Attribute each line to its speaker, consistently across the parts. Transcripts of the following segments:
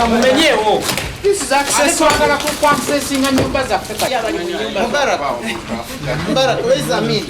Speaker 1: mumenyewo twagala
Speaker 2: kukwasesinga nyumba zaffe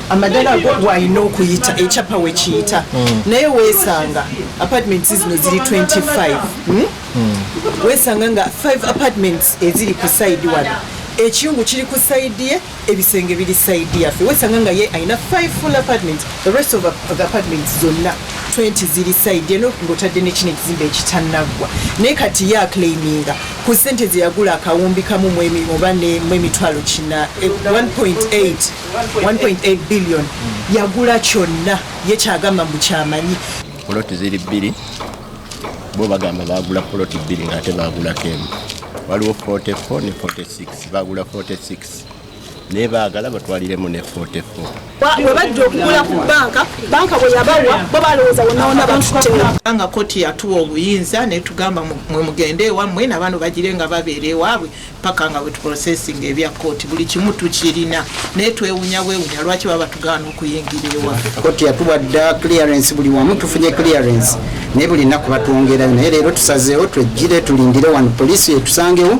Speaker 3: amadala go gwalina
Speaker 4: okuyita ekyapa wekiyita hmm. naye wesanga apartments zino ziri 25 hmm? hmm. wesanga nga 5 apartments eziri ku saidi wano ekiyungu kiri ku saidi ye ebisenge biri side yaffe wesanga nga ye alina 5 full apartment the rest of the apartment zonna 20 ziri side eno ngotadde nekino ekizimba ekitanaggwa naye kati ye aclaiminga ku sente zeyagula akawumbi kamu oba mu emitwalo kina 1.8 eh, billion yagula kyonna ye kyagamba mbu kyamanyi poloti ziri
Speaker 5: bbiri bo bagamba bagula poloti bbiri ngaate bagulako emu waliwo 44 ne 46 bagula 46 naye baagala batwaliremu ne 44 we bajja
Speaker 6: okugula ku banka banka bwe yabawa bo balowooza wonawona batuttewo nga koti yatuwa
Speaker 3: obuyinza netugamba mwe mugende ewammwe nabano bagire nga babeera ewaabwe paka nga wetuprocesinga ebya koti buli kimu tukirina naye twewunya bwewunya lwaki baba tugaana okuyingira ewa koti yatuwa dda
Speaker 7: clearance buli wamu tufunye clearance naye buli nnaku batwongerayo naye leero tusazeewo twejjire tulindire wano poliisi yetusangewo